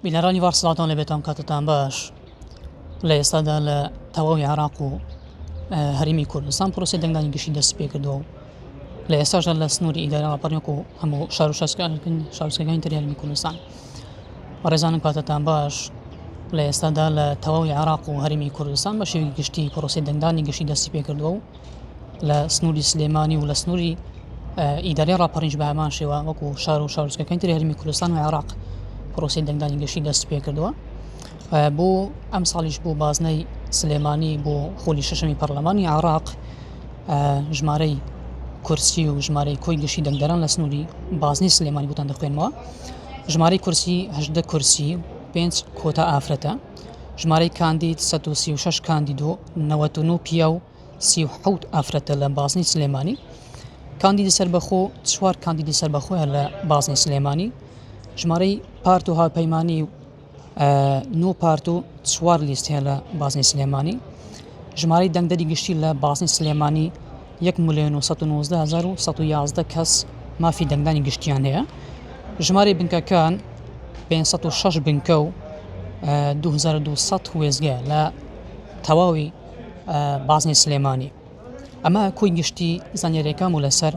بینەرانی ڤار سڵاوتان لەبێتان کاتتان باش لە ئێستادا لە تەواوی عراق و هەرمی کوردستان پرۆسی دەنگدانی گشتی دەست پێ کردەوە لە ئێستاژە لە سنووری ئیدارەوە پەرنێک و هەموو شار و شارکردن شارسەکانی تریالمی کوردستان ڕێزانم کاتتان باش لە ئێستادا لە تەواوی عراق و هەرمی کوردستان بە شێوی گشتی پرۆسی دەنگدانی گشتی دەستی پێ کردووە و لە سنووری سلێمانی و لە سنووری ئیدارەی ڕاپەڕینش بە هەمان شێوە وەکو شار و شارۆچکەکانی تری هەرێمی کوردستان و عێراق پرۆسەی دەنگدانی گشتی دەست پێ کردووە بۆ ئەم ساڵیش بۆ بازنەی سلێمانی بۆ خۆلی شەشەمی پەرلەمانی عێراق ژمارەی کورسی و ژمارەی کۆی گشتی دەنگدەران لە سنووری بازنی سلێمانی بۆتان دەخوێنمەوە ژمارەی کورسی هەشدە کورسی پێنج کۆتا ئافرەتە ژمارەی کاندید سەد و سی و شەش کاندید و نەوەد و نۆ پیاو سی و حەوت ئافرەتە لە بازنەی سلێمانی کاندیدی سەربەخۆ چوار کاندیدی سەربەخۆیان لە بازنەی سلێمانی ژمارەی پارت و هاوپەیمانی و نۆ پارت و چوار لیست هەیە لە بازنەی سلێمانی ژمارەی دەنگدەری گشتی لە بازنەی سلێمانی یەک ملێۆن و سەد و نۆزدە هەزار و سەد و یازدە کەس مافی دەنگدانی گشتیان هەیە ژمارەی بنکەکان پێنج سەد و شەش بنکە و دوو هەزار و دوو سەد وێستگە لە تەواوی بازنەی سلێمانی ئەمە کۆی گشتی زانیارییەکان بوو لەسەر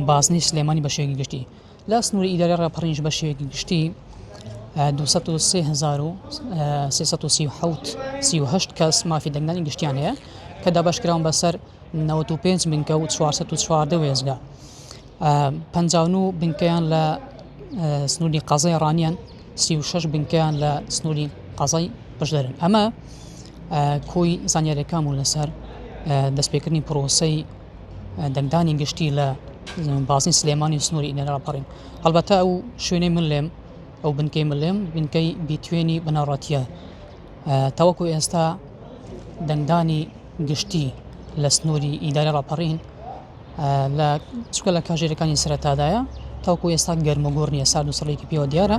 بازنەی سلێمانی بە شێوەی گشتی. لە سنووری ئیدارەی ڕاپەڕینیش بە شێوەیەکی گشتی دوو سەد و سێ هەزار و سێ سەد و سی و حەوت سی و هەشت کەس مافی دەنگدانی گشتیان هەیە کە دابەشکراون بەسەر نەوەد و پێنج بنکە و چوار سەد و چواردە وێستگە پەنجا و نۆ بنکەیان لە سنووری قەزای ڕانیان سی و شەش بنکەیان لە سنووری قەزای بەشدارن ئەمە کۆی زانیاریەکان بوو لەسەر دەستپێکردنی پرۆسی دەنگدانی گشتی لە بازنەی سلێمانی سنووری ئینەر ڕاپەڕین هەڵبەتە ئەو شوێنەی من لێم ئەو بنکەی من لێم بنکەی بیتوێنی بنەڕەتیە تاوەکو ئێستا دەنگدانی گشتی لە سنووری ئیداری ڕاپەڕین لە چکە لە کاژێرەکانی سەرتادایە تاوکو ئێستا گەرمەگۆڕ نیە سا دوسەڵێکی پێوە دیارە.